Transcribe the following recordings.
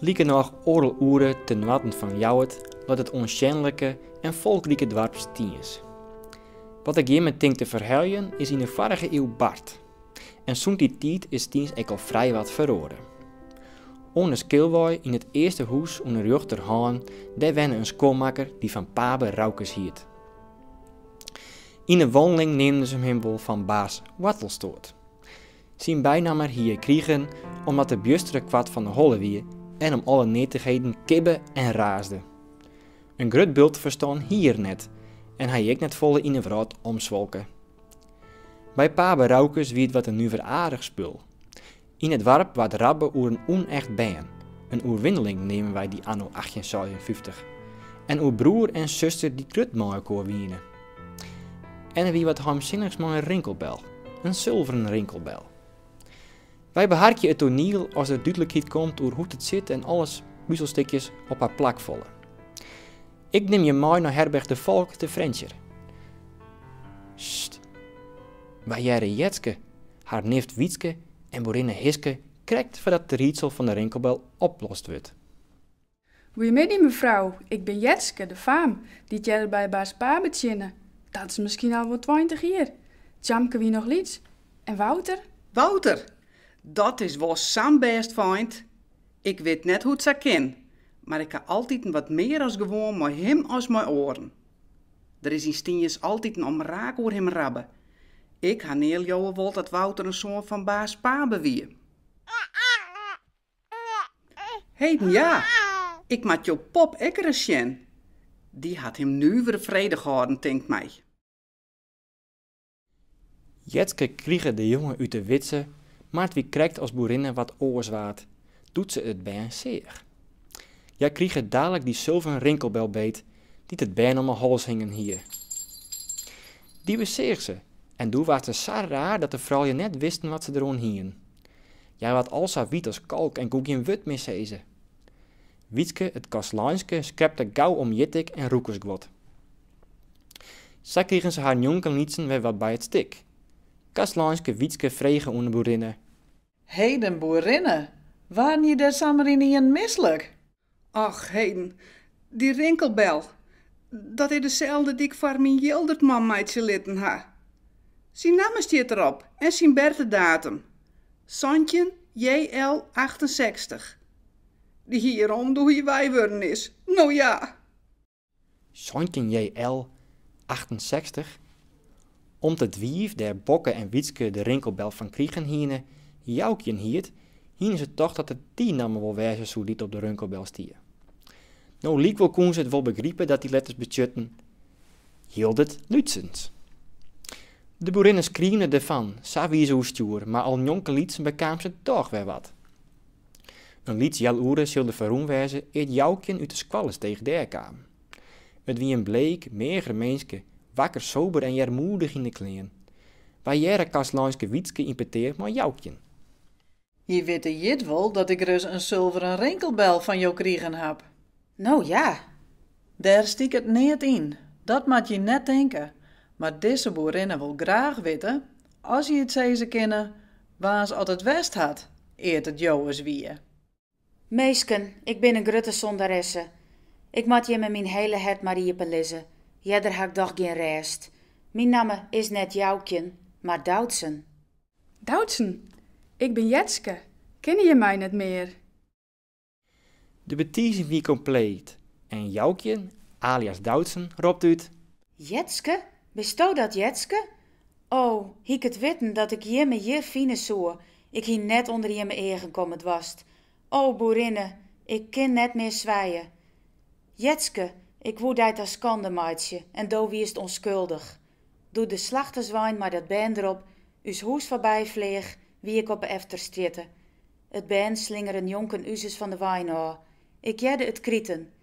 Likernôch oardel oere te noarden fan Ljouwert leit it oansjenlike en folkrike doarp Stiens. Wat ik jimme tink te ferheljen is yn de foarige iuw bard. En sûnt dy tiid is Stiens ek al frijwat feroare. Oan 'e Skilwei, yn it earste hûs oan 'e rjochterhân, dêr wenne in skuonmakker dy't fan Pabe Roukes hiet. Yn 'e wanneling neamden se him wol fan Baas Wartelstoat. Syn bynamme hie er krigen omdat er bjustere koart fan 'e holle wie en om alle neatichheden kibbe en raasde. In grut bult ferstân hie er net en hie ek net folle yn 'e wrâld omswalke. By Pabe Roukes wie it wat in nuveraardich spul. Yn it doarp waard rabbe oer in ûnecht bern, in oerwinneling neamden wy dy anno achttjin seisenfyftich, en oer broer en suster dy't grut mei elkoar wiene. En der wie wat heimsinnichs mei in rinkelbel, in sulveren rinkelbel. Wy beharkje it toaniel as der dúdlikheid komt oer hoe't it sit en alle puzelstikjes op har plak falle. Ik nim je mei nei herberch De Valk te Frjentsjer. Sst, wy hearre Jetske, har nift Wytske en boerinne Hiske krekt foardat it riedsel fan de rinkelbel oplost wurdt. Goeiemiddei mefrou, ik bin Jetske, de faam, dy't earder by Baas Pabe tsjinne, dat is miskien al wol tweintich jier. Tjamke wie noch lyts. En Wouter? Wouter, dat is wol sa'n bêst feint, ik wit net hoe't sa kin, mar ik ha altiten wat mear as gewoan mei him as mei oaren. Der is yn Stiens altiten omraak oer him rabbe. Ik ha nea leauwe wold dat Wouter in soan fan Baas Pabe wie. Heden ja, ik moat jo pop ek ris sjen. Dy hat him nuvere fredich hâlden, tinkt my. Jetske krige de jonge út de widze, mar it wie krekt as boerinne wat oars waard, doe't se it bern seach. Hja krige dalik dy sulveren rinkelbel beet, dy't it bern om 'e hals hingen hie. Dy beseach se, en doe waard se sa raar dat de froulju net wisten wat se deroan hienen. Hja waard al sa wyt as kalk en koe gjin wurd mear sizze. Wytske it kastleinske skrepte gau om jittik en rûkersguod. Sa krigen se har njonkenlytsen wer wat by it stik. Kastleinske Wytske frege oan de boerinne. Heden boerinne, waarden je dêr samar ynienen mislik? Och, heden, dy rinkelbel, dat is deselde dy'k foar myn Jildertman meitsje litten ha. Syn namme stiet derop en syn bertedatum, santjin JL achtensechstich. Dy hie er om doe't hy wei wurden is, no ja! Santjin JL achtensechstich. Om't it wiif dêr Bokke en Wytske de rinkelbel fan krigen hiene, Joukjen hiet, hiene se tocht dat it dy namme wol wêze soe dy't op de rinkelbel stie. No lykwol koene se it wol begripe dat dy letters betsjutten: Jildert Lútsens. De boerinne skriemde derfan, sa wie se oerstjoer, mar al njonkenlytsen bekaam se dochs wer wat. In lyts healoere sil der ferrûn wêze ear't Joukjen út de Skoallestege dêr kaam. It wie in bleek, meager minske, wakker sober en earmoedich yn de klean. Wy hearre kastleinske Wytske yn petear mei Joukjen. Je witte jit wol dat ik ris in sulveren rinkelbel fan jo krigen haw. No ja! Dêr stiket neat yn, dat moat je net tinke, mar dizze boerinne wol graach witte, as je it sizze kinne, waans at it west hat ear't it jowes wie. Minsken, ik bin in grutte sondaresse. Ik moat jimme myn hiele hert mar iepen lizze, earder ha ik dochs gjin rêst. Myn namme is net Joukjen, mar Doutsen. Doutsen, ik bin Jetske, kinne je my net mear? De betizing wie kompleet en Joukjen, alias Doutsen, ropt út. Jetske, bisto dat Jetske? O, hie 'k it witten dat ik jimme hjir fine soe, ik hie net ûnder jimme eagen komme doarst. O, boerinne, ik kin net mear swije. Jetske, ik woe dy ta skande meitsje en do wiest ûnskuldich. Doe't de slachterswein mei dat bern derop ús hûs foarby fleach, wie ik op 'e efterstrjitte. It bern slingere njonken uzes fan de wein ôf. Ik hearde it kriten.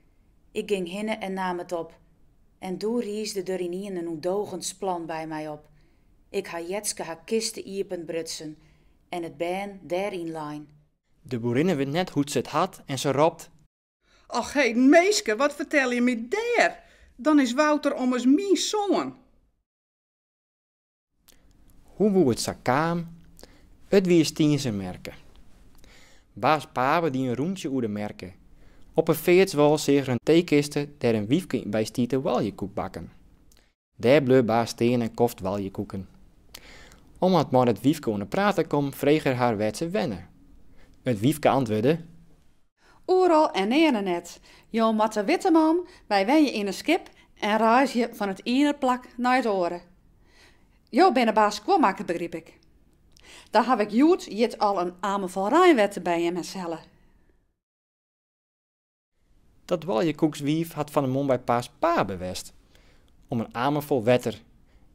Ik ging hinne en naam it op. En doe riisde der ynienen in ûndogens plan by my op. Ik ha Jetske har kiste iepenbrutsen en it bern dêr yn lein. De boerinne wit net hoe't se it hat en se ropt. Och heden minske, wat fertel je my dêr? Dan is Wouter ommers myn soan! Hoe woe it sa kaam? It wie Stienzer merke. Baas Pabe die in rûntsje oer de merke. Op 'e feartswâl seach er in teekiste dêr't in wyfke by stie te oaljekoekbakken. Dêr bleau baas stean en koft oaljekoeken. Om wat mei it wyfke oan 'e praat te kommen, frege er har wêr't se wenne. It wyfke antwurde. Oeral en nearne net. Jo moatte witte man, wy wenje yn in skip en reizgje fan it iene plak nei it oare. Jo binne baas skuonmakker, begryp ik. Dan haw ik hjoed jit al in amer fol reinwetter by jimmes helle. Dat oaljekoekswiif hat fan 'e moarn by baas Pabe west. om in amer fol wetter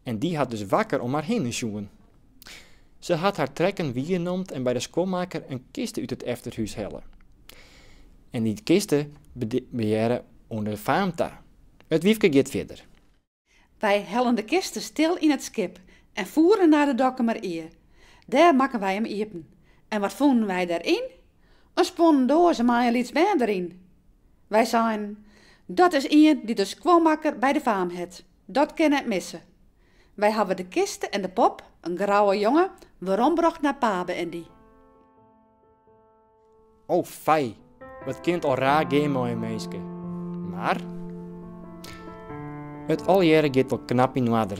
en dy hat dus wakker om har hinne sjoen. Se hat har trekken wiernomd en by de skuonmakker in kiste út it efterhûs helle. En dy kiste behearre oan de faam ta. It wyfke giet fierder. Wy hellen de kiste stil yn it skip en foere nei de Dokkumer Ie. Dêr makken wy him iepen. En wat fûnen wy dêr yn? In spuonnen doaze mei in lyts bern deryn. Wy seinen, Dat is ien dy't de skuonmakker by de faam hat. Dat kin net misse. Wy hawwe de kiste en de pop, in grouwe jonge, werombrocht nei Pabe en dy. O fij, wat kin it al raar gean mei in minske. Mar it allegearre giet wol knap yn oarder.